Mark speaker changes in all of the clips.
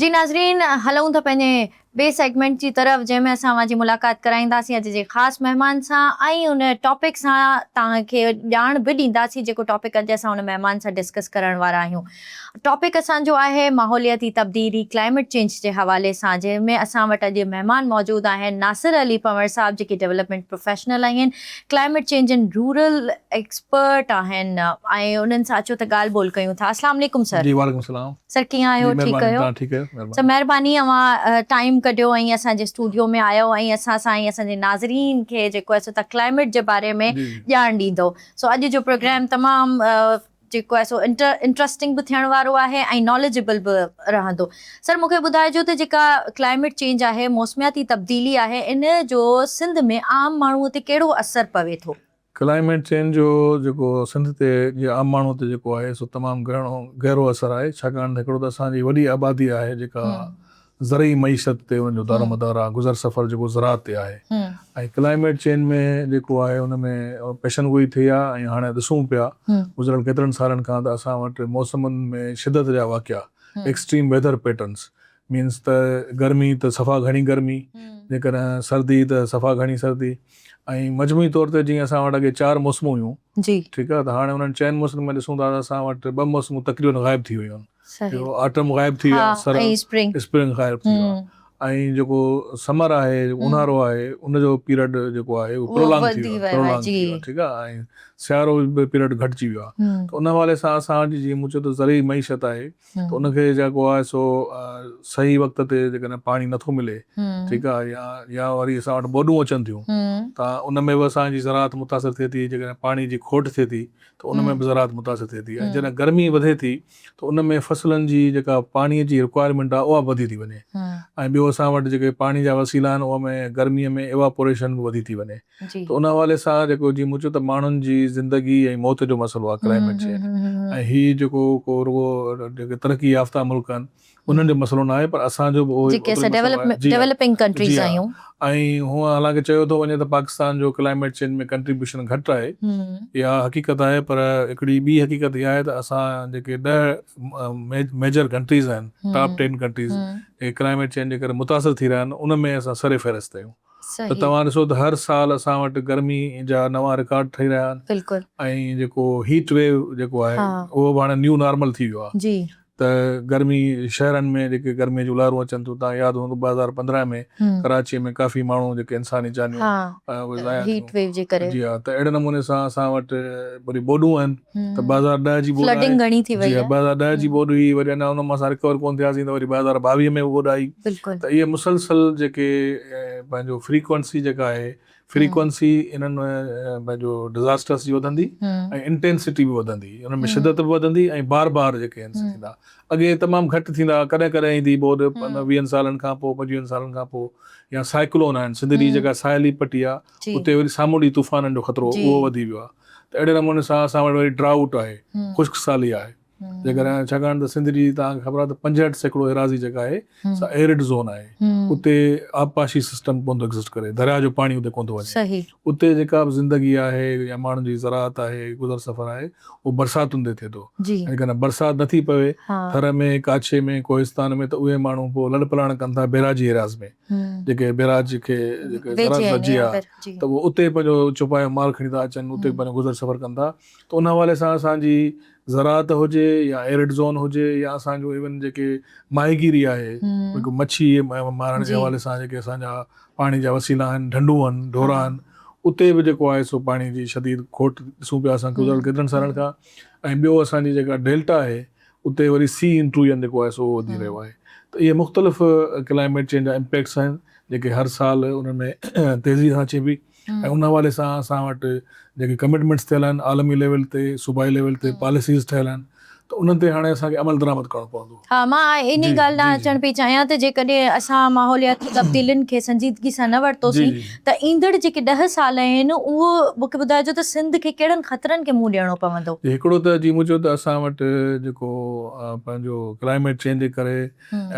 Speaker 1: جي ناظرين هلئون ٿا پنهنجي ٻئي سيگمينٽ جي طرف جنهن ۾ اسان اوهان جي ملاقات ڪرائينداسين اڄ جي خاص مهمان سان ۽ ان ٽاپڪ سان توهان کي ڄاڻ به ڏينداسين جيڪو ٽاپڪ اڄ اسان ان مهمان سان ڊسڪس ڪرڻ وارا آهيون ٽاپڪ اسان جو آهي ماحولياتي تبديلي Climate Change جي حوالي سان جنهن ۾ اسان وٽ اڄ مهمان موجود آهن ناصر علي پنوهر صاحب جيڪي ڊولپمينٽ پروفيشنل آهن Climate Change and rural expert آهن ۽ انهن سان اچو ته ڳالهه ٻولهه ڪيون ٿا اسلام عليڪم سر. جي وعليڪم السلام. سر
Speaker 2: ڪيئن آهيو ٺيڪ
Speaker 1: ڪيو سر مهرباني
Speaker 2: اوهان
Speaker 1: ٽائيم ڪڍيو ۽ اسان جي اسٽوڊيو ۾ آيو ۽ اسان سان ۽ اسان جي ناظرين کي جيڪو آهي سو تها ڪلائميٽ جي باري ۾ ڄاڻ ڏيندو سو اڄ جو پروگرام تمام جيڪو آهي سو انٽرسٽنگ به ٿيڻ وارو آهي ۽ ناليجبل به رهندو سر مونکي ٻڌائجو ته جيڪا ڪلائميٽ چينج آهي موسمياتي تبديلي آهي ان جو سنڌ ۾ عام ماڻهو تي ڪهڙو اثر پوي ٿو. ڪلائميٽ چينج جو
Speaker 2: جيڪو سنڌ تي جي عام ماڻهو تي جيڪو آهي سو تمام گهڻو گهرو اثر آهي ڇاڪاڻ ته هڪڙو ته اسان جي وڏي آبادي آهي جيڪا زرعي معيشت تي ان جو دار و مدار آهي گذر سفر جيڪو زراعت تي آهي ۽ ڪلائميٽ چينج ۾ جيڪو آهي ان ۾ پيشن گوئي ٿئي ها ۽ هاڻي ڏسون پيا گذريل ڪيترن سالن کان ته اسان وٽ موسمن ۾ شدت جا واقعا ايڪسٽريم ويڌر پيٽرنس مينس ته گرمي ته صفا گهڻي گرمي جيڪڏهن سردي ته صفا گهڻي سردي ۽ مجموعي طور تي جيئن اسان وٽ اڳي چار موسمون هيون ٺيڪ آهي ته هاڻي انهن چئن موسمن ۾ ڏسون ٿا ته اسان وٽ ٻه موسمون تقريبن غائب ٿي ويون آهن آٽم غائب ٿي ويو آهي سر اسپرنگ غائب ٿي ويو آهي ۽ جيڪو سمر آهي اونهارو آهي ان جو پيرڊ جيڪو آهي اهو پرولانگ ٿي ويو آهي ٺيڪ آهي ۽ سيارو پيرڊ گهٽجي ويو آهي ته ان حوالي سان اسان جي جيئن مون چيو ته زرعي معيشت آهي ته ان کي جيڪو آهي سو صحيح وقت تي جيڪڏهن پاڻي نٿو ملي ٺيڪ آهي يا يا وري اسان وٽ ٻوڏون اچن ٿيون ته ان ۾ به اسان جي زراعت متاثر ٿئي ٿي جيڪڏهن پاڻي جي کوٽ ٿئي ٿي ته ان ۾ به زراعت متاثر ٿئي ٿي ۽ جڏهن گرمي وڌي ٿي ته ان ۾ فصلن جي جيڪا پاڻي جي رڪوائرمينٽ آهي اها به وڌي ٿي وڃي ۽ ٻيو اسان وٽ جيڪي پاڻي جا وسيلا آهن ان ۾ گرمي ۾ ايواپوريشن به وڌي ٿي وڃي ته ان حوالي سان جيڪو جيئن مون چيو ته ماڻهن جي زندگي ۽ موت جو مسئلو آهي ڪلائميٽ چينج ۽ هي جيڪو ڪو رڳو جيڪي ترقي يافته ملڪ آهن انهن جو مسئلو نه آهي پر اسان جو به اهو ئي جي ها ۽
Speaker 1: هونء
Speaker 2: حالانڪه چيو ٿو وڃي ته پاڪستان جو ڪلائميٽ چينج ۾ ڪنٽريبيوشن گهٽ آهي اها حقيقت آهي پر هڪڙي ٻي حقيقت اها آهي ته اسان جيڪي ڏهه ميجر ڪنٽريز آهن ٽاپ ٽين ڪنٽريز جيڪي ڪلائميٽ چينج جي ڪري متاثر ٿي رهيا آهن ان ۾ اسان سرفهرست آهيون ته صحيح. توهان ڏسو ته هر سال اسان وٽ گرمي جا نوان رڪارڊ ٺهي رهيا آهن بلڪل. ۽ جيڪو هيٽ ويو جيڪو آهي ها. اهو به هاڻي نيو نارمل ٿي ويو آهي جي. ته گرمي شهرن ۾ جيڪي گرمي جون لهرون اچن ٿيون توهان ياد هوندو ٻه هزار پندرهن ۾ هم. ڪراچي ۾ ڪافي ماڻهو جيڪي انساني جانيون ها اهي ضايع هيٽ ٿيون ويو جي ڪري. جي ها ته اهڙي نموني سان اسان وٽ وري ٻوڏون آهن ته ٻه هزار ڏهه جي ٻوڏ آهي، جي ها ٻه هزار ڏهه جي ٻوڏ هئي وري اڃا ان مان اسان رڪور ڪونه ٿياسين ته وري ٻه هزار ٻاويهه ۾ ٻوڏ آئي ته اهي مسلسل جيڪي پنهنجو فريڪوئنسي جيڪا آهي فريڪوئنسي انهن پنهنجو ڊزاسٽرس جي وڌندي ۽ انٽينسٽي به وڌندي ان ۾ شدت به وڌندي ۽ بار بار جيڪي آهن سي ٿيندا اڳي تمام گهٽ ٿيندا ها ڪڏهن ڪڏهن ايندي هئي ٻوڏ پنجويهن سالن کان پوء پنجويهن سالن کان پوء يا سائيڪلون آهن سنڌ جي جيڪا ساحلي پٽي آهي اتي وري سامونڊي طوفانن جو خطرو اهو وڌي ويو آهي ته اهڙي نموني سان اسان وٽ وري ڊرائوٽ آهي خشڪ سالي آهي جيڪڏهن ڇاڪاڻ ته سنڌ جي توهان کي خبر آهي ته پنجهٺ سيڪڙو ايراضي جيڪا آهي سا ايرڊ زون آهي اتي آبپاشي سسٽم ڪونه ٿو ايگزسٽ ڪري درياء جو پاڻي اتي ڪونه ٿو وڃي اتي جيڪا به زندگي آهي يا ماڻهن جي زراعت آهي گذر سفر آهي اهو برساتن تي ٿئي ٿو جيڪڏهن برسات نٿي پوي ٿر ۾ ڪاڇي ۾ ڪوهستان ۾ ته اهي ماڻهو پوء لڏپلاڻ ڪن ٿا بيراجي ايراض ۾ جيڪي بئراج کي زراعت ويجهي آ ته اهي اتي پنهنجو چوپايو مال کڻي ٿا اچن اتي پنهنجو گذر سفر ڪن ٿا ته ان حوالي سان اسان جي زراعت هجي يا ايرڊ زون هجي يا اسان جون ايون جيڪي ماهيگيري آهي جيڪو مڇي مارڻ جي حوالي سان جيڪي اسان جا پاڻي جا وسيلا آهن ڍنڍون آهن ڍورا آهن اتي به جيڪو آهي سو پاڻي جي شديد کوٽ ڏسون پيا اسان گذريل ڪيترن سالن کان ۽ ٻيو اسان جي جيڪا ڊيلٽا آهي اتي وري سي انٽرويئن جيڪو آهي سو وڌي رهيو آهي ته اهي مختلف ڪلائميٽ چينج جا امپيڪٽس آهن جيڪي هر سال ان ۾ تيزي سان اچي پئي ۽ ان حوالي سان اسان وٽ جيڪي ڪمٽمينٽس ٿيل آهن عالمي ليول تي صوبائي ليول تي پاليسيز ٺهيل آهن ته انهن تي هاڻي اسان کي عمل درآمد ڪرڻو پوندو. ها مان انهي
Speaker 1: ڳالهه ڏانهن اچڻ پئي
Speaker 2: چاهيان
Speaker 1: ته
Speaker 2: جيڪڏهن
Speaker 1: اسان ماحولياتي تبديلين کي سنجيدگي سان نه ورتوسين ته ايندڙ
Speaker 2: جيڪي ڏهه
Speaker 1: سال آهن اهو مونکي ٻڌائجو ته سنڌ کي ڪهڙن خطرن کي منهن ڏيڻو پوندو؟ جي هڪڙو ته جي مون چيو ته
Speaker 2: اسان وٽ جيڪو پنهنجو ڪلائميٽ چينج جي ڪري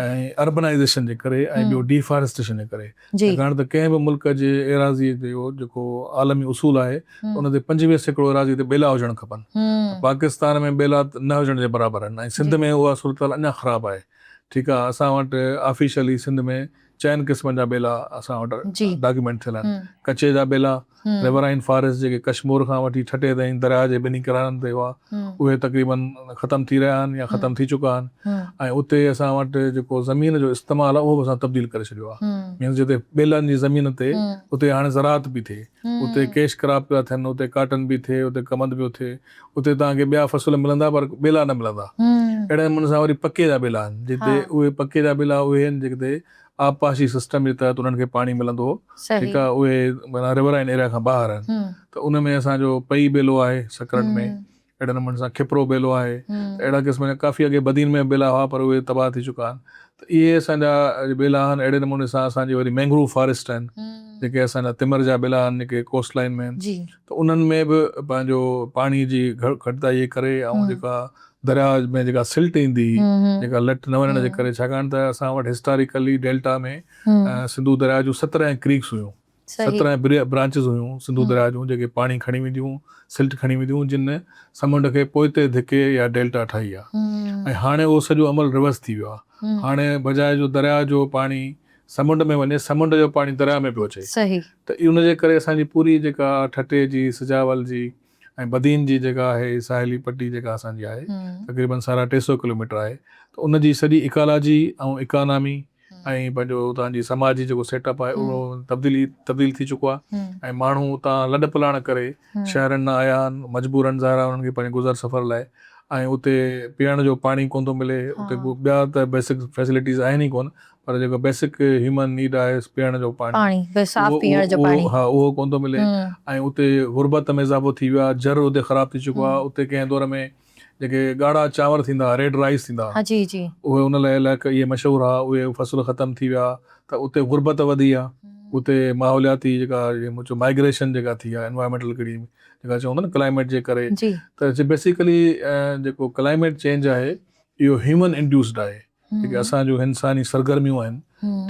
Speaker 2: ۽ اربنائيزيشن جي ڪري ۽ ٻيو ڊي فاريسٽيشن جي ڪري ڇاڪاڻ ته ڪنهن به
Speaker 1: ملڪ
Speaker 2: جي ايراضي جو جيڪو عالمي اصول آهي ان تي پنجويهه سيڪڙو ايراضي تي ٻيلا هجڻ کپن ته پاڪستان ۾ ٻيلا نه هجڻ جي برابر آهن ۽ سنڌ ۾ اها صورتحال اڃا خراب آهي ٺيڪ آهي اسان وٽ آفيشلي سنڌ ۾ چئن قسمن جا ٻيلا اسان وٽ ڊاڪيومينٽ ٿيل آهن. ڪچي جا ٻيلا، Riverine Forest، جيڪي ڪشمور کان وٺي ٺٽي تائين درياهه جي ٻنهي ڪنارن تي هئا، اهي تقريباً ختم ٿي رهيا آهن يا ختم ٿي چڪا آهن ۽ اتي اسان وٽ جيڪو زمين جو استعمال آهي اهو به اسان تبديل ڪري ڇڏيو آهي. مينس جتي ٻيلن جي زمين تي اتي هاڻي زراعت پئي ٿئي، اتي ڪيش ڪراپ پيا ٿين، اتي ڪاٽن پئي ٿئي، اتي ڪمند پيو ٿئي، اتي توهان کي ٻيا فصل ملندا پر ٻيلا نه ملندا. اهڙن نموني سان وري پڪي جا ٻيلا آهن جتي اهي پڪي جا ٻيلا اهي آهن جتي آبپاشي سسٽم جي تحت انهن کي پاڻي ملندو هو ٺيڪ آهي اهي معنيٰ رورائن ايريا کان ٻاهر آهن ته ان ۾ اسان جو پئي ٻيلو آهي سکرن ۾ اهڙي نموني سان کپرو ٻيلو آهي ته اهڙا قسم جا ڪافي اڳي بدين ۾ ٻيلا هئا پر اهي تباهه ٿي چڪا آهن ته اهي اسان جا ٻيلا آهن اهڙي نموني سان اسان جي وري مينگروو فاريسٽ آهن جيڪي اسان جا تمر جا ٻيلا آهن جيڪي ڪوسٽ لائين ۾ آهن ته انهن ۾ به پنهنجو پاڻي جي گهٽتائي جي ڪري ۽ جيڪا درياء ۾ جيڪا سلٽ ايندي جيڪا لٽ نه وڃڻ جي ڪري ڇاڪاڻ ته اسان وٽ هسٽاريڪلي ڊيلٽا ۾ سنڌو درياء جون سترهن ڪريڪس هيون سترهن برانچز هيون سنڌو درياء جون جيڪي پاڻي کڻي وينديون سلٽ کڻي وينديون جن سمنڊ کي پوئتي ڌڪي يا ڊيلٽا ٺاهي آهي ۽ هاڻي اهو سڄو عمل ريورس ٿي ويو آهي هاڻي بجاء جو درياء جو پاڻي سمنڊ ۾ وڃي سمنڊ جو پاڻي درياء ۾ پيو اچي صحيح. ته ان جي ڪري اسان جي پوري جيڪا ٺٽي جي سجاول جي ۽ بدين جي جيڪا آهي ساحلي پٽي جيڪا اسان جي آهي تقريبن سارا ٽي سئو ڪلوميٽر آهي ته ان جي سڄي ايڪالاجي ۽ ايڪانامي ۽ پنهنجو اتان جي سماجي جيڪو سيٽ اپ آهي اهو تبديلي تبديل ٿي چڪو آهي ۽ ماڻهو اتان لڏپلاڻ ڪري شهرن نه آيا آهن مجبورن ظاهرا انهن کي پنهنجي گذر سفر لاء ۽ اتي پيئڻ جو پاڻي ڪونه ٿو ملي اتي ٻيا ته بيسڪ فيسلٽيز آهن ئي ڪونه پر جيڪو بيسڪ هيومن نيڊ آهي پيئڻ جو پاڻي اهو ڪونه ٿو ملي ۽ اتي غربت ۾ اضافو ٿي ويو آهي جر اتي خراب ٿي چڪو آهي اتي ڪنهن دور ۾ جيڪي ڳاڙها چانور ٿيندا، ريڊ رائيس ٿيندا، اهي ان لاء علائقي اهي مشهور ها، اهي فصل ختم ٿي ويا ته اتي غربت وڌي ها، اتي ماحولياتي جيڪا مائگريشن جيڪا ٿي ها، انوائرمينٽل ڪهڙي جيڪا چون ٿا نه ڪلائميٽ جي ڪري ته بيسيڪلي جيڪو ڪلائميٽ چينج آهي اهو هيومن انڊيوسڊ آهي. جيڪي اسان جون انساني سرگرميون آهن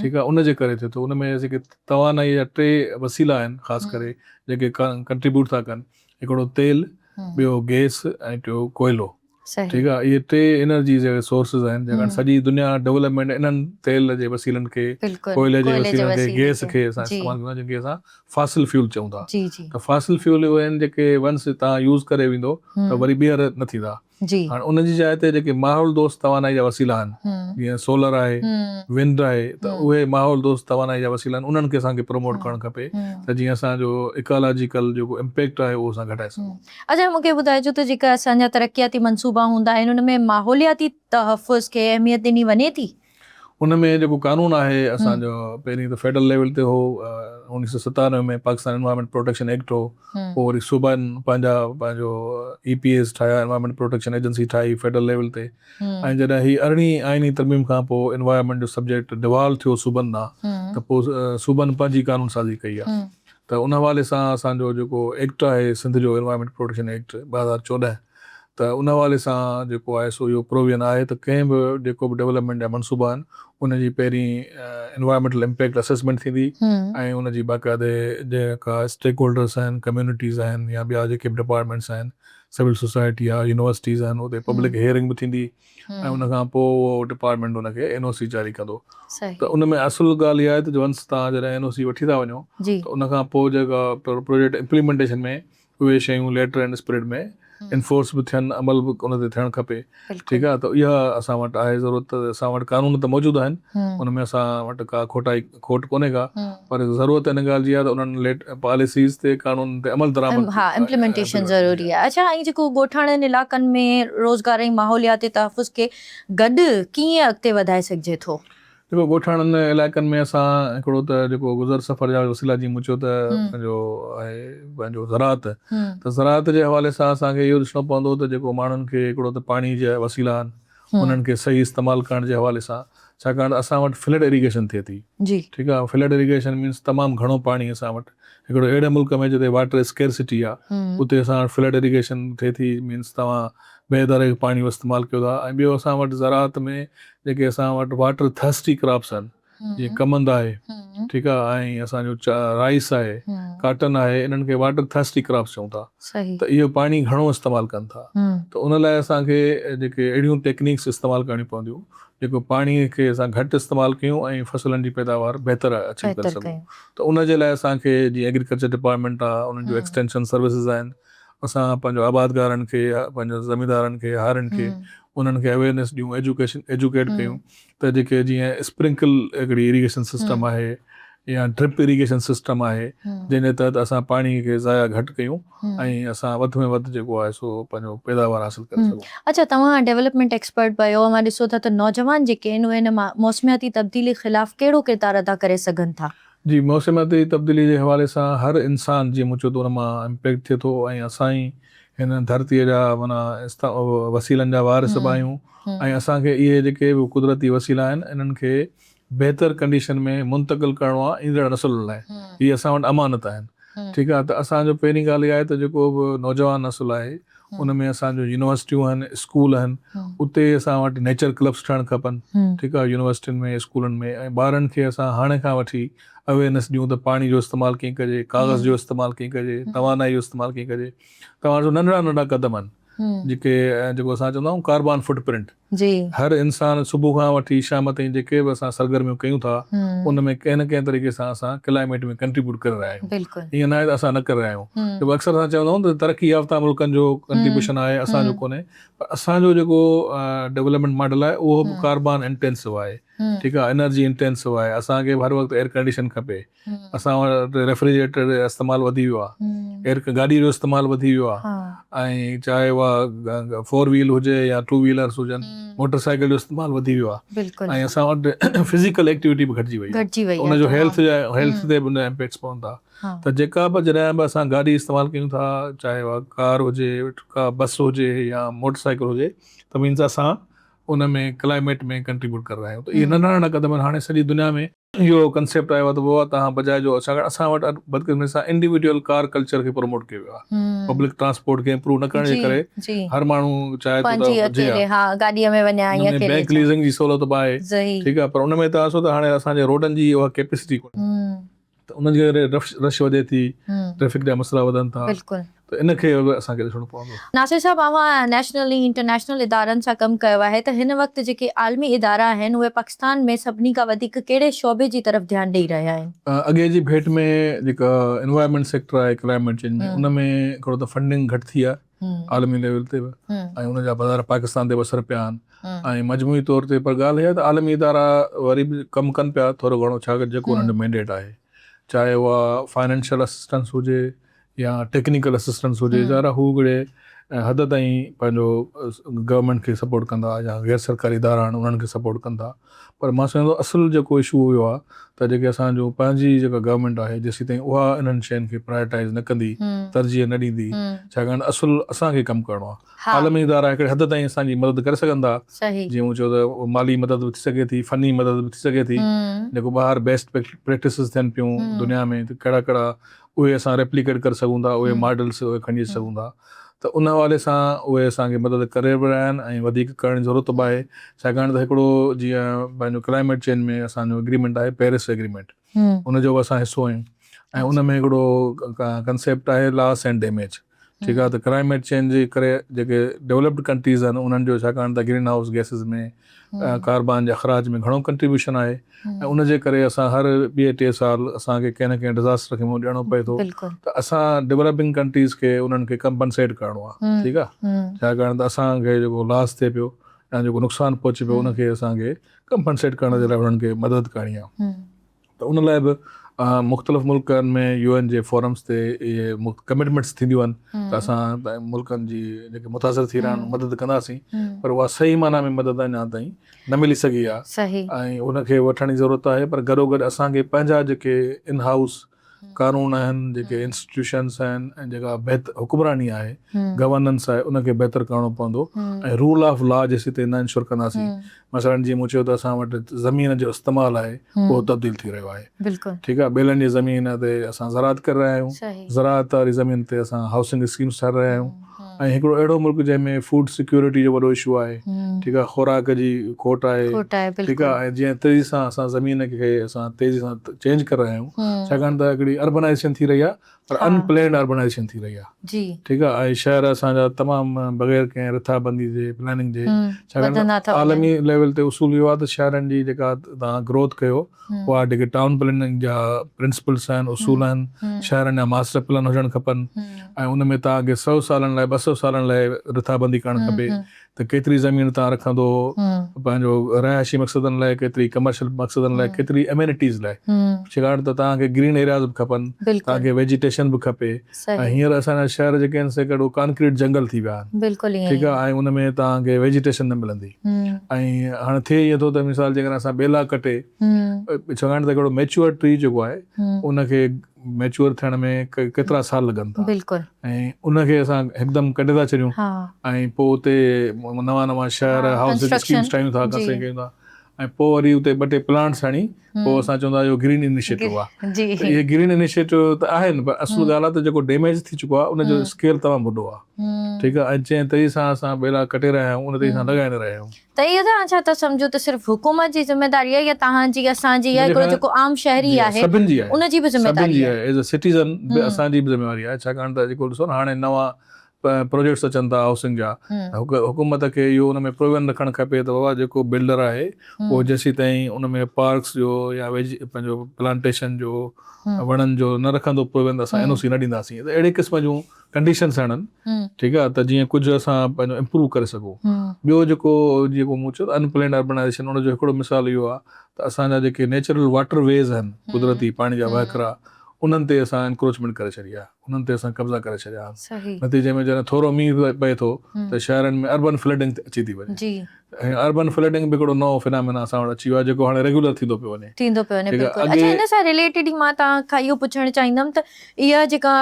Speaker 2: ٺيڪ آهي ان جي ڪري ٿئي ٿو ان ۾ جيڪي توانائي جا ٽي وسيلا آهن خاص ڪري جيڪي ڪنٽريبيوٽ ٿا ڪن هڪڙو تيل ٻيو گيس ۽ ٽيو ڪوئلو ٺيڪ آهي اهي ٽي انرجي جا سورسز آهن جيڪا سڄي دنيا ڊولپمينٽ انهن تيل جي وسيلن کي ڪوئلي جي وسيلن کي گيس کي اسان استعمال ڪندا جن کي اسان فاسل فيول چئون ٿا ته فاسل فيول اهي آهن جيڪي ونس تان يوز ڪري ويندو ته وري ٻيهر نه ٿيندا جي. هاڻ ان جي جاء تي جيڪي ماحول دوست توانائي جا وسيلا آهن جيئن سولر آهي، ونڊ آهي ته اهي ماحول دوست توانائي جا وسيلا آهن انهن کي اسان کي پروموٽ ڪرڻ کپي ته جيئن اسان جو ايڪالاجيڪل جيڪو امپيڪٽ آهي اهو اسان گهٽائي سگهون. اچا مون کي ٻڌائجو
Speaker 1: ته جيڪا اسان جا ترقياتي منصوبا هوندا آهن ان ۾ ماحولياتي تحفظ کي اهميت ڏني وڃي ٿي؟ ان ۾ جيڪو
Speaker 2: قانون آهي اسان جو پهرين ته فيڊرل ليول تي هو اوڻيهه سؤ ستانوي ۾ پاڪستان انوائرمينٽ پروٽيڪشن ايڪٽ هو پوء وري صوبائن پنهنجا پنهنجو اي پي ايز ٺاهيا انوائرمينٽ پروٽيڪشن ايجنسي ٺاهي فيڊرل ليول تي ۽ جڏهن هي ارڙهين آئيني ترميم کان پوء انوائرمينٽ جو سبجيڪٽ ڊوالو ٿيو صوبن ڏانهن ته پوء صوبن پنهنجي قانون سازي ڪئي آهي ته ان حوالي سان اسان جو جيڪو ايڪٽ آهي سنڌ جو انوائرمينٽ پروٽيڪشن ايڪٽ ٻه هزار چوڏهن ته ان حوالي سان جيڪو آء ايس او اهو پروويئن آهي ته ڪنهن به جيڪو به ڊولپمينٽ جا منصوبا آهن ان جي پهرين انوائرمينٽل امپيڪٽ اسيسمينٽ ٿيندي ۽ ان جي باقاعدي جيڪا اسٽيڪ هولڊرس آهن ڪميونٽيز آهن يا ٻيا جيڪي به ڊپارٽمينٽس آهن سول سوسائٽي يا يونيورسٽيز آهن اتي پبلڪ هيئرنگ به ٿيندي ۽ ان کان پوء اهو ڊپارٽمينٽ ان کي اين او سي جاري ڪندو ته ان ۾ اصل ڳالهه اها آهي ته ونس تهان جڏهن اين او سي وٺي ٿا وڃو ته ان کان پوء جيڪا پروجيڪٽ امپليمينٽيشن ۾ اهي شيون ليٽر اينڊ اسپريڊ ۾ انفورس به ٿين عمل به ان تي ٿيڻ کپي ٺيڪ آهي ته اها اسان وٽ آهي ضرورت ته اسان وٽ قانون ته موجود آهن ان ۾ اسان وٽ ڪا کوٽائي کوٽ ڪونهي ڪا پر ضرورت ان ڳالهه جي آهي ته انهن ليٽ پاليسيز تي قانون تي عمل درآمد ها امپليمينٽيشن ضروري
Speaker 1: آهي اڇا ۽ جيڪو ڳوٺاڻن علاقن ۾ روزگار ۽ ماحولياتي تحفظ کي گڏ ڪيئن اڳتي وڌائي سگهجي ٿو. جيڪو
Speaker 2: ڳوٺاڻن علائقن ۾ اسان هڪڙو ته جيڪو گذر سفر جا وسيلا جي مون چيو ته پنهنجو آهي پنهنجو زراعت ته زراعت جي حوالي سان اسان کي اهو ڏسڻو پوندو ته جيڪو ماڻهن کي هڪڙو ته پاڻي جا وسيلا آهن انهن کي صحيح استعمال ڪرڻ جي حوالي سان ڇاڪاڻ ته اسان وٽ فلڊ ايريگيشن ٿئي ٿي ٺيڪ آهي فلڊ
Speaker 1: ايريگيشن
Speaker 2: مينس تمام گهڻو پاڻي اسان وٽ هڪڙو اهڙي ملڪ ۾ جتي واٽر اسڪيرسٽي آهي اتي اسان وٽ فلڊ ايريگيشن ٿئي ٿي مينس توهان بي اداري پاڻي استعمال ڪيو ٿا ۽ ٻيو اسان وٽ زراعت ۾ جيڪي اسان وٽ واٽر ٿرسٽي ڪراپس آهن جيئن ڪمند آهي ٺيڪ آهي ۽ اسان جو رائيس آهي ڪاٽن آهي انهن کي واٽر ٿرسٽي ڪراپس چئون ٿا ته اهي پاڻي
Speaker 1: گهڻو
Speaker 2: استعمال ڪن ٿا ته ان لاء اسان کي جيڪي اهڙيون ٽيڪنيڪس استعمال ڪرڻيون پونديون جيڪو پاڻي کي اسان گهٽ استعمال ڪيون ۽ فصلن جي پيداوار بهتر اچيو ڪري سگهون ته ان جي لاء اسان کي جيئن ايگريڪلچر ڊپارٽمينٽ آهي انهن جو ايڪسٽينشن سروسز آهن اسان پنهنجو آبادگارن کي پنهنجو زميندارن کي هارين کي انهن کي اويرنيس ڏيون ايجوڪيشن ايجوڪيٽ ڪيون ته جيڪي جيئن اسپرنڪل هڪڙي ايريگيشن سسٽم آهي يا ڊرپ ايريگيشن سسٽم آهي جنهن جي تحت اسان پاڻي کي ضايع گهٽ ڪيون ۽ اسان وڌ ۾ وڌ جيڪو آهي سو پنهنجو پيداوار حاصل ڪري سگهون. اڇا توهان ڊيولپمينٽ
Speaker 1: ايڪسپرٽ به آهيو اوهان ڏسو ٿا ته نوجوان جيڪي آهن اهي هن موسمياتي تبديلي خلاف ڪهڙو ڪردار ادا ڪري سگهن ٿا؟ جي موسمياتي
Speaker 2: تبديلي جي حوالي سان هر انسان جي مون چيو ته ان مان امپيڪٽ ٿئي ٿو ۽ اسان ئي هن ڌرتي جا معنيٰ وسيلن جا وارث به آهيون ۽ اسان کي اهي جيڪي به قدرتي وسيلا آهن انهن کي بهتر ڪنڊيشن ۾ منتقل ڪرڻو آهي ايندڙ نسلن لاء هي اسان وٽ امانت آهن ٺيڪ آهي ته اسان جو پهرين ڳالهه اها آهي ته جيڪو به نوجوان نسل آهي ان ۾ اسان جون يونيورسٽيون آهن، اسڪول آهن، اتي اسان وٽ نيچر ڪلبس ٺهڻ کپن، ٺيڪ آهي، يونيورسٽين ۾ اسڪولن ۾ ۽ ٻارن کي اسان هاڻي کان وٺي اويرنيس ڏيون ته پاڻي جو استعمال ڪيئن ڪجي، ڪاغذ جو استعمال ڪيئن ڪجي، توانائي جو استعمال ڪيئن ڪجي، توهان ڏسو ننڍڙا ننڍڙا قدم آهن جيڪي جيڪو اسان چوندا آهيون ڪاربان فوٽ پرنٽ، جي. هر
Speaker 1: انسان صبح
Speaker 2: کان وٺي شام تائين جيڪي به اسان سرگرميون ڪيون ٿا ان ۾ ڪنهن نه ڪنهن طريقي سان اسان ڪلائميٽ ۾ ڪنٽريبيوٽ ڪري رهيا آهيون ائين ناهي ته اسان نه
Speaker 1: ڪري رهيا
Speaker 2: آهيون جيڪو اڪثر اسان چوندا آهيون ته ترقي يافته ملڪن جو ڪنٽريبيوشن آهي اسان جو ڪونهي پر اسان جو جيڪو ڊولپمينٽ ماڊل آهي اهو به ڪاربان انٽينسو آهي ٺيڪ آهي انرجي انٽينسو آهي اسان کي به هر وقت ايئر ڪنڊيشن کپي اسان وٽ ريفريجريٽر جو استعمال وڌي ويو آهي ايئر گاڏي جو استعمال وڌي ويو آهي ۽ چاهي اها فور ويل هجي يا ٽو ويلرس هجن موٽر سائيڪل جو استعمال وڌي ويو آهي ۽ اسان وٽ فزيڪل ايڪٽيوٽي به گهٽجي وئي آهي ان جو هيلٿ جا هيلٿ تي به ان امپيڪٽس پون ٿا ته جيڪا به جڏهن به اسان گاڏي استعمال ڪيون ٿا چاهي اها ڪار هجي ڪا بس هجي يا موٽر سائيڪل هجي ته مينز اسان ان ۾ ڪلائميٽ ۾ ڪنٽريبيوٽ ڪري رهيا آهيون ته اهي ننڍا ننڍا قدم هاڻي سڄي دنيا ۾ اهو ڪنسيپٽ آيو آهي ته ووا تهان بجاء جو ڇاڪاڻ اسان وٽ اڄ بدقسمتي سان انڊيوڊيول ڪار ڪلچر کي پروموٽ ڪيو ويو آهي پبلڪ ٽرانسپورٽ کي امپروو نه ڪرڻ جي ڪري هر ماڻهو چاهي ٿو ته هجي ها ان ۾
Speaker 1: بئنڪ ليزنگ جي سهولت
Speaker 2: به آهي ٺيڪ آهي پر ان ۾ توهان ڏسو ته هاڻي اسان جي روڊن جي اها ڪيپيسٽي ڪونهي ته ان جي ڪري رش وڌي ٿي ٽريفڪ جا مسئلا وڌن ٿا ته ان کي به اسان کي ڏسڻو پوندو. ناصر صاحب اوهان
Speaker 1: نيشنل ۽ انٽرنيشنل ادارن سان ڪم ڪيو آهي ته هن وقت جيڪي عالمي ادارا آهن اهي پاڪستان ۾ سڀني کان وڌيڪ ڪهڙي شعبي جي طرف ڌيان ڏئي رهيا آهن؟ اڳي جي ڀيٽ ۾
Speaker 2: جيڪا انوائرمينٽ سيڪٽر آهي ڪلائمينٽ چينج ۾ ان ۾ ڪھڙو ته فنڊنگ گھٽ ٿي آهي عالمي ليول تي به ۽ ان جا بظاهر پاڪستان تي به اثر پيا آهن ۽ مجموعي طور تي پر ڳالهه اها ته عالمي ادارا وري به ڪم ڪن پيا ٿورو گھڻو ڇاڪ جيڪو انهن جو مينڊيٽ آهي چاهي اها فائنينشل اسسٽنس هجي يا ٽيڪنيڪل اسسٽنس هجي ظاهر هو ڪهڙي حد تائين پنهنجو گورنمينٽ کي سپورٽ ڪندا يا غير سرڪاري ادارا آهن انهن کي سپورٽ ڪندا پر مان سمجهان ٿو اصل جيڪو اشو هو آهي ته جيڪي اسان جو پنهنجي جيڪا گورنمينٽ آهي جيسين تائين اها انهن شين کي پرايٽائز نه ڪندي ترجيح نه ڏيندي ڇاڪاڻ اصل اسان کي ڪم ڪرڻو آهي عالمي ادارا هڪڙي حد تائين اسان جي مدد ڪري سگهن ٿا جيئن مون چيو ته مالي مدد به ٿي سگهي ٿي فني مدد به ٿي سگهي ٿي جيڪو ٻاهر بيسٽ پريڪٽسز ٿين پيون دنيا ۾ ته ڪهڙا ڪهڙا اهي اسان ريپليڪيٽ ڪري سگهون ٿا، اهي ماڊلز اهي کڻجي سگهون ٿا ته ان حوالي سان اهي اسان کي مدد ڪري به رهيا آهن ۽ وڌيڪ ڪرڻ جي ضرورت به آهي ڇاڪاڻ ته هڪڙو جيئن پنهنجو ڪلائميٽ چينج ۾ اسان جو اگريمينٽ آهي پيرس اگريمينٽ ان جو به اسان حصو آهيون ۽ ان ۾ هڪڙو ڪنسيپٽ آهي لاس اينڊ ڊيميج ٺيڪ آهي ته ڪلائميٽ چينج جي ڪري جيڪي ڊولپڊ ڪنٽريز آهن انهن جو ڇاڪاڻ ته گرين هائوس گئسز ۾ ڪاربان جي اخراج ۾ گهڻو ڪنٽريبيوشن آهي ۽ ان جي ڪري اسان هر ٻئي ٽي سال اسان کي ڪنهن نه ڪنهن ڊزاسٽر کي منهن ڏيڻو پئي ٿو ته اسان ڊولپنگ ڪنٽريز کي انهن کي ڪمپنسيٽ ڪرڻو آهي ٺيڪ آهي ڇاڪاڻ ته اسان کي جيڪو لاس ٿئي پيو يا جيڪو نقصان پهچي پيو ان کي اسان کي ڪمپنسيٽ ڪرڻ جي لاء انهن کي مدد ڪرڻي آهي ته ان لاء به مختلف ملڪن ۾ يو اين جي فورمز تي اهي ڪمٽمينٽس ٿينديون آهن ته اسان ملڪن جي جيڪي متاثر ٿي رهيا آهن مدد ڪنداسين پر اها صحيح معنيٰ ۾ مدد اڃا تائين نه ملي سگهي آهي ۽ ان کي
Speaker 1: وٺڻ
Speaker 2: جي ضرورت آهي پر گڏو گڏ اسان کي پنهنجا جيڪي ان هائوس قانون آهن جيڪي انسٽيٽيوشنز آهن ۽ جيڪا بهتر حڪمراني آهي گورننس آهي ان کي بهتر ڪرڻو پوندو ۽ رول آف لا جيسيتائين نه انشور ڪنداسين مثلا جيئن مون چيو ته اسان وٽ زمين جو استعمال آهي اهو تبديل ٿي رهيو آهي ٺيڪ آهي ٻيلن
Speaker 1: جي زمين
Speaker 2: تي اسان زراعت ڪري رهيا آهيون زراعت واري
Speaker 1: زمين تي
Speaker 2: اسان هائوسنگ اسڪيمز ٺاهي رهيا آهيون ۽ هڪڙو اهڙو ملڪ جنهن ۾ فوڊ سيڪيورٽي جو وڏو اشو آهي ٺيڪ آهي خوراڪ جي کوٽ آهي ٺيڪ آهي ۽ جنهن تيزي سان اسان زمين کي اسان تيزي سان چينج ڪري رهيا آهيون ڇاڪاڻ ته هڪڙي اربنائيزيشن ٿي رهي آهي پر ان پلينڊ اربنائيزيشن ٿي رهي آهي ٺيڪ آهي ۽
Speaker 1: شهر
Speaker 2: اسان جا تمام بغير ڪنهن رٿابندي جي پلاننگ جي ڇاڪاڻ ته عالمي ليول تي اصول اهو آهي ته شهرن جي جيڪا توهان گروٿ ڪيو اها جيڪي ٽائون پلاننگ جا پرنسپلس آهن اصول آهن شهرن جا ماسٽر پلان هجڻ کپن ۽ ان ۾ توهان کي سؤ سالن لاء ٻه سؤ سالن لاء رٿابندي ڪرڻ کپي ته ڪيتري زمين تان رکندو پنهنجو رهائشي مقصدن لاء ڪيتري ڪمرشل مقصدن لاء ڪيتري امينٽيز لاء ڇيڪاڻ ته توهان کي گرين ايرياز به کپن توهان کي ويجيٽيشن به کپي ۽ هينئر اسان جا شهر جيڪي آهن سي ڪهڙو ڪانڪريٽ جنگل ٿي ويا آهن ٺيڪ آهي ۽ ان ۾ توهان کي ويجيٽيشن نه ملندي ۽ هاڻي ٿئي ائين ٿو ته مثال جيڪڏهن اسان ٻيلا ڪٽي ڇيڪاڻ ته ڪهڙو ميچوئر ٽري جيڪو آهي ان کي ميچوئر ٿيڻ ۾ ڪيترا سال لڳن ٿا بلڪل ۽ ان کي اسان هڪدم ڪڍي ٿا ڇڏيون ها ۽ پوء اتي نوان نوان شهر ها هائوسز اسڪيمز ڪنسٽرڪشن ٺاهيون ٿا جي ڪنسٽرڪشن ڪيون ٿا ۽ پوء وري اتي ٻه ٽي پلانٽس هڻي پوء هم اسان چون ٿا اهو گرين انيشيٽو آهي گرين جي ته اهي گرين انيشيٽو ته آهن پر اصل هم ڳالهه آهي ته جيڪو ڊيميج ٿي چڪو آهي ان جو هم اسڪيل تمام وڏو آهي ٺيڪ هم آهي ۽ جنهن طريقي سان اسان ٻيلا ڪٽي رهيا آهيون ان طريقي سان هم لڳائي نه رهيا آهيون ته اهو توهان ڇا ٿا
Speaker 1: سمجهو ته صرف حڪومت جي ذميواري آهي يا توهان جي، اسان جي يا هڪڙو جيڪو عام شهري آهي ان جي به
Speaker 2: ذميواري آهي؟
Speaker 1: ايز اي سٽيزن به
Speaker 2: اسان جي به ذميواري آهي ڇاڪاڻ ته جيڪو ڏسو نه هاڻي نوان پروجيڪٽس اچن ٿا هائوسنگ جا ته حڪومت کي اهو ان ۾ پرووين رکڻ کپي ته بابا جيڪو بلڊر آهي اهو جيسيتائين ان ۾ پارڪس جو يا پنهنجو پلانٽيشن جو وڻن جو نه رکندو پرووين ته اسان اين او سي نه ڏينداسين ته اهڙي قسم جون ڪنڊيشنس آڻن ٺيڪ آ ته جيئن ڪجهه اسان پنهنجو امپروو ڪري سگهون ٻيو جيڪو جيڪو مون چيو ان پلينڊ اربنائيزيشن ان جو هڪڙو مثال اهو آ ته اسان جا جيڪي نيچرل واٽر ويز آهن قدرتي پاڻي جا وهڪرا انهن تي اسان انڪروچمينٽ ڪري ڇڏي آ انهن تي اسان قبضا ڪري ڇڏيا آهن نتيجي ۾ جڏهن ٿورو مينهن پئي ٿو ته شهرن ۾ اربن فلڊنگ اچي ٿي وڃي ۽ اربن فلڊنگ به هڪڙو نئون فنامينا اسان وٽ اچي ويو آهي جيڪو هاڻي ريگيولر ٿيندو پيو وڃي. ٿيندو پيو وڃي بلڪل اگي. اڇا
Speaker 1: ان سان رليٽيڊ ئي مان توهان کان اهو پڇڻ چاهيندم ته اها جيڪا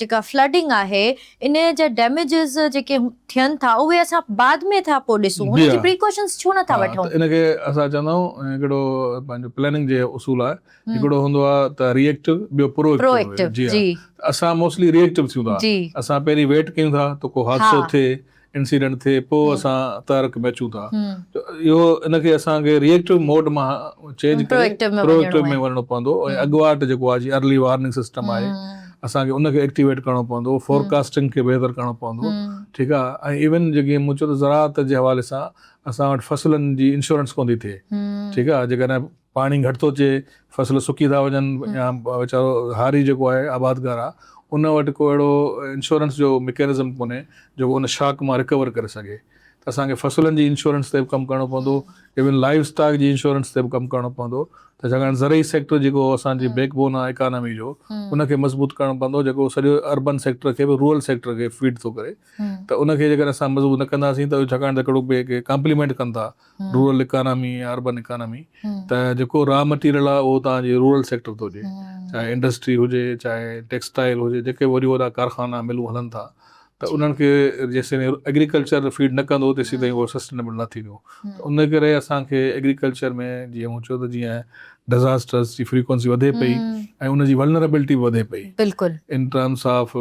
Speaker 1: جيڪا فلڊنگ آهي ان جا ڊيميجز جيڪي ٿين ٿا اهي اسان بعد ۾ ٿا پوء ڏسون ان جي پريڪوشنز ڇو نه ٿا وٺون. ها ته ان کي اسان چوندا
Speaker 2: آهيون هڪڙو پنهنجو پلاننگ جي اصول آهي هڪڙو هوندو آهي ته ري ايڪٽو ٻيو پرو ايڪٽو جي ها ته اسان موسٽلي ري ايڪٽو ٿيون ٿا اسان پهرين ويٽ ڪيون ٿا ته ڪو حادثو ٿئي انسيڊنٽ ٿئي پوء اسان تحرڪ ۾ اچون ٿا ته اهو ان کي اسان کي ري ايڪٽو موڊ مان چينج ڪري پرو ايڪٽو ۾ وڃڻو پوندو ۽ اڳواٽ جيڪو آهي جي ارلي وارننگ سسٽم آهي اسان کي ان کي ايڪٽيويٽ ڪرڻو پوندو فورڪاسٽنگ کي بهتر ڪرڻو پوندو ٺيڪ آهي ۽ ايون جيڪي مون چيو ته زراعت جي حوالي سان اسان وٽ فصلن جي انشورنس ڪوندي ٿئي ٺيڪ آهي جيڪڏهن پاڻي گهٽ ٿو اچي، فصل سڪي ٿا وڃن يا ويچارو هاري جيڪو آهي آبادگار آ ان وٽ ڪو اهڙو انشورنس جو مڪينزم ڪونهي جيڪو ان شاڪ مان رڪور ڪري سگهي ته اسان کي فصلن جي انشورنس تي به ڪم ڪرڻو پوندو ايون لائيو اسٽاڪ جي انشورنس تي به ڪم ڪرڻو پوندو ته ڇاڪاڻ زرعي سيڪٽر جيڪو اسان جي بيڪ بون آ اڪانامي جو ان کي مضبوط ڪرڻو پوندو جيڪو سڄو اربن سيڪٽر کي به رورل سيڪٽر کي فيڊ ٿو ڪري ته ان کي جيڪڏهن اسان مضبوط نه ڪنداسين ته ڇاڪاڻ ته ڪهڙو ڪامپليمينٽ ڪن ٿا رورل اڪانامي يا اربن اڪانامي ته جيڪو را مٽيريل آهي اهو توهان جي رورل سيڪٽر ٿو هجي چاهي انڊسٽري هجي چاهي ٽيڪسٽائل هجي جيڪي به وڏيون وڏا ڪارخانا ملون هلن ٿا ته انهن کي جيسين ايگريڪلچر فيڊ نه ڪندو تيسين تائين اهو سسٽينبل نه ٿيندو ته ان ڪري اسان کي ايگريڪلچر ۾ جيئن مون چيو ته جيئن ڊزاسٽرس جي فريڪوئنسي وڌي پئي ۽ ان جي ولنربلٽي به وڌي پئي in terms of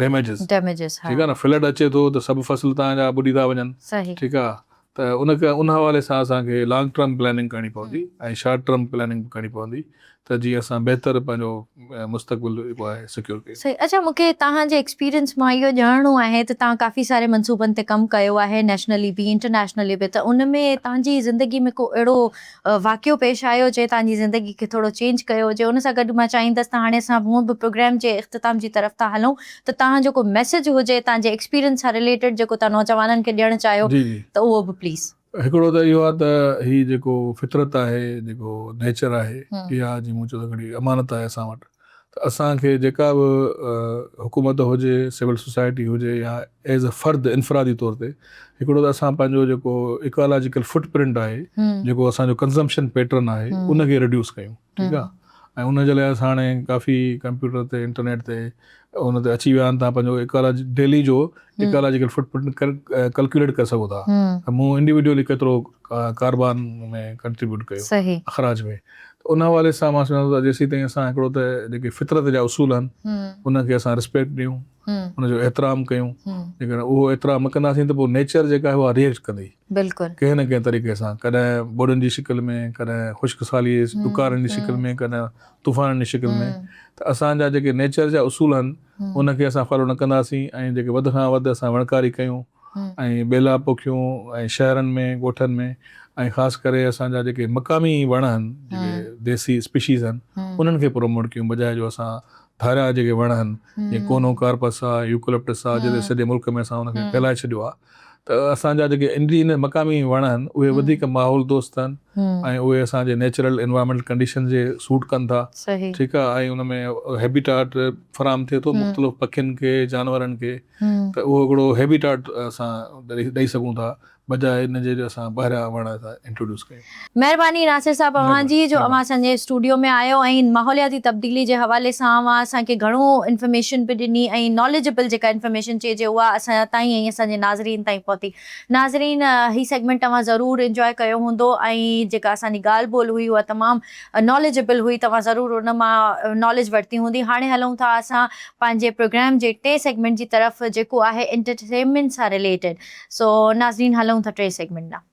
Speaker 2: damages damages ها ٺيڪ آهي نه فلڊ اچي ٿو ته سڀ فصل توهان جا ٻڏي ٿا وڃن ٺيڪ آهي ته ان ڪري ان حوالي سان اسان کي لانگ ٽرم پلاننگ ڪرڻي پوندي ۽ شارٽ ٽرم پلاننگ به ڪرڻي پوندي ته جيئن اسان بهتر پنهنجو مستقبل جيڪو آهي سيڪيور ڪيون. صحيح اڇا مون کي توهان
Speaker 1: جي ايڪسپيرينس مان اهو ڄاڻڻو آهي ته توهان ڪافي ساري منصوبن تي ڪم ڪيو آهي نيشنلي به انٽرنيشنلي به ته ان ۾ توهان جي زندگي ۾ ڪو اهڙو واقعو پيش آيو جنهن تهانجي زندگي کي ٿورو چينج ڪيو هجي ان سان گڏ مان چاهيندس ته هاڻي اسان هونء به پروگرام جي اختتام جي طرف ٿا هلون ته تهان جو ڪو ميسيج هجي تهان جي ايڪسپيرينس سان رليٽيڊ جيڪو تهان نوجوانن کي ڏيڻ چاهيو جي جي ته اهو به پليز. هڪڙو
Speaker 2: ته اهو آهي ته هي جيڪو فطرت آهي جيڪو نيچر آهي اها جي مون چيو ته هڪڙي امانت آهي اسان وٽ ته اسان کي جيڪا به حڪومت هجي، سول سوسائٽي هجي يا ايز اي فرد انفرادي طور تي هڪڙو ته اسان پنهنجو جيڪو ايڪالاجيڪل فٽ پرنٽ آهي، جيڪو اسان جو ڪنزمپشن پيٽرن آهي ان کي ريڊيوس ڪيون ٺيڪ آهي ۽ ان جي لاء اسان هاڻي ڪافي ڪمپيوٽر تي انٽرنيٽ تي ان تي اچي ويا آهن تان پنهنجو ايڪالا ڊيلي جو ايڪالاجيڪل فٽ پرنٽ ڪلڪيوليٽ ڪري سگهو ٿا ته مون انڊيوڊيولي ڪيترو ڪاربان ۾ ڪنٽريبيوٽ ڪيو اخراج ۾ ان حوالي سان مان سمجهان ٿو ته جيسين تائين اسان هڪڙو ته جيڪي فطرت جا اصول آهن انهن کي اسان رسپيڪٽ ڏيون ان جو احترام ڪيون جيڪڏهن اهو احترام نه ڪنداسين ته پوء نيچر جيڪا آهي اها ريئيڪٽ ڪندي ڪنهن نه ڪنهن
Speaker 1: طريقي
Speaker 2: سان ڪڏهن ٻوڏن جي شڪل ۾ ڪڏهن خشڪ سالي ڏڪارن جي شڪل ۾ ڪڏهن طوفانن جي شڪل ۾ ته اسان جا جيڪي نيچر جا اصول آهن ان کي اسان فالو نه ڪنداسين ۽ جيڪي وڌ کان وڌ اسان وڻڪاري ڪيون ۽ ٻيلا پوکيون ۽ شهرن ۾ ڳوٺن ۾ ۽ خاص ڪري اسان جا جيڪي مقامي وڻ آهن جيڪي ديسي اسپيشيز آهن انهن کي پروموٽ ڪيون بجاء جو اسان ڌاريا جيڪي وڻ آهن جيئن ڪونو ڪارپس آهي يوڪلپٽس آهي جيڪي سڄي ملڪ ۾ اسان ان کي ڦهلائي ڇڏيو آهي ته اسان جا جيڪي انڊيجينس مقامي وڻ آهن اهي وڌيڪ ماحول دوست آهن ۽ اهي اسان جي نيچرل انوائرمينٽل ڪنڊيشن جي سوٽ ڪن ٿا ٺيڪ آهي ۽ ان ۾ هيبيٽاٽ فراهم ٿئي ٿو مختلف پکين کي جانورن کي ته اهو هڪڙو هيبيٽاٽ اسان ڏئي سگهون ٿا بجاء ان جي جو اسان ٻاهريان وڻ انٽروڊيوس ڪيون مهرباني ناصر
Speaker 1: صاحب اوهان جي جو اوهان اسان جي اسٽوڊيو ۾ آيو ۽ ماحولياتي تبديلي جي حوالي سان اوهان اسان کي گهڻو انفارميشن به ڏني ۽ ناليجبل جيڪا انفارميشن چئجي اها اسان تائين ۽ اسان جي ناظرين تائين پهتي ناظرين هي سيگمينٽ توهان ضرور انجواء ڪيو هوندو ۽ جيڪا اسان جي ڳالهه ٻولهه هئي اها تمام ناليجبل هئي توهان ضرور ان مان ناليج ورتي هوندي هاڻي هلون ٿا اسان پنهنجي پروگرام جي ٽئين سيگمينٽ جي طرف جيڪو آهي انٽرٽينمينٽ سان رليٽيڊ سو ناظرين هلون ٿا ٽئين سيگمينٽ ڏانهن.